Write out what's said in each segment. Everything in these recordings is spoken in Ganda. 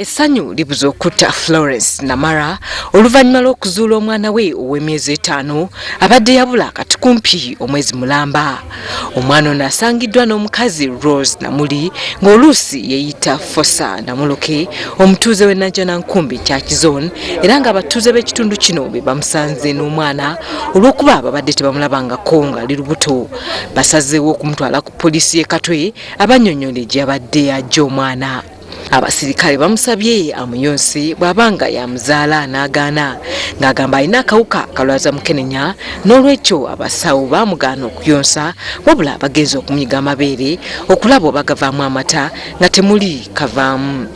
Essanyu libuze okutta Florence Namara oluvannyuma lw'okuzuula omwana we ow'emyezi etaano abadde yabula kati kumpi omwezi mulamba. Omwana ono asangiddwa n'omukazi Rose Namuli ng'oluusi yeeyita Fosa Namuluke omutuuze w'e Najjanankumbi Church Zone era ng'abatuuze b'ekitundu kino be bamusanze n'omwana olw'okuba babadde tebamulabangako ng'ali lubuto. Basazeewo okumutwala ku poliisi y'e Katwe abannyonnyole gye yabadde ajja omwana. abasirikale bamusabye amuyonse bw'aba nga yamuzaala n'agaana ng'agamba alina akawuka kalwaza mukenenya n'olwekyo abasawo baamugaana okuyonsa wabula bagenza okumyiga amabeere okulaba oba gavaamu amata nga temuli kavaamu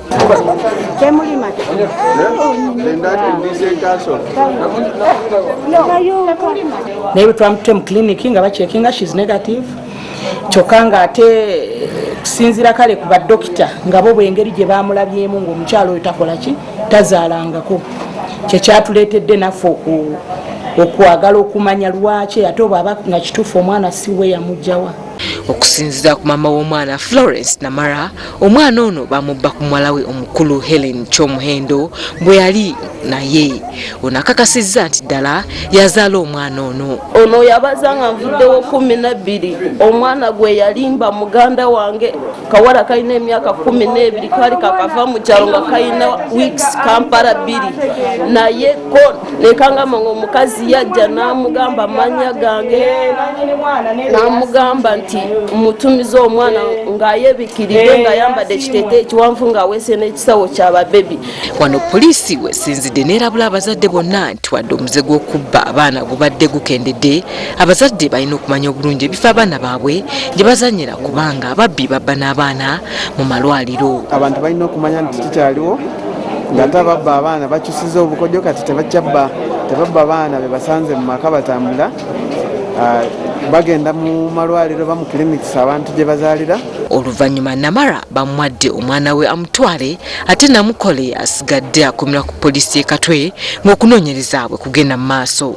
naye bwetwamutute mu kiliniki nga bakyekinga shes negative kyokka ng'ate kusinziira kale ku badokita nga bo bwengeri gye baamulabyemu ng'omukyalo oyo takola ki tazaalangako kyekyatuleetedde naffe okwagala okumanya lwaki ate obwaba nga kituufu omwana siwe yamugjawa okusinzira ku maama w'omwana florence namara Omwana ono bamubba ku muwala we omukulu Helen Kyomuhendo bwe yali naye ono akakasizza nti ddala yazaala omwana ono. Ono yabaza nga nvuddewo kumi nabbiri omwana gwe yalimba muganda wange kawala kalina emyaka kumi n'ebiri kaali kakava mu kyalo nga kalina wiikisi kampala bbiri naye ko nekangamba nga omukazi yajja namugamba amanya gange namugamba nti mutumiza omwana ngayebikirire nga ayambadde ekitete ekiwanvu nga awese n'ekisawo kya babebi wano poliisi wesinzidde nerabula abazadde bonna nti wadde omuze gw'okubba abaana gubadde gukendedde abazadde balina okumanya obulungi ebifo abaana baabwe gye bazanyira kubanga ababbi babba n'abaana mu malwaliro abantu balina okumanya nti kikyaliwo ngate ababba abaana bakyusiza obukodyo kati tebakyabba tebabba baana bebasanze mu maka batambula ah, bagenda mu malwaliro ba mu clinics abantu gye bazaalira oluvannyuma namara bamwadde omwana we amutwale ate namukole asigadde akomera ku poliisi y'e katwe ng'okunoonyereza bwe kugenda mu maaso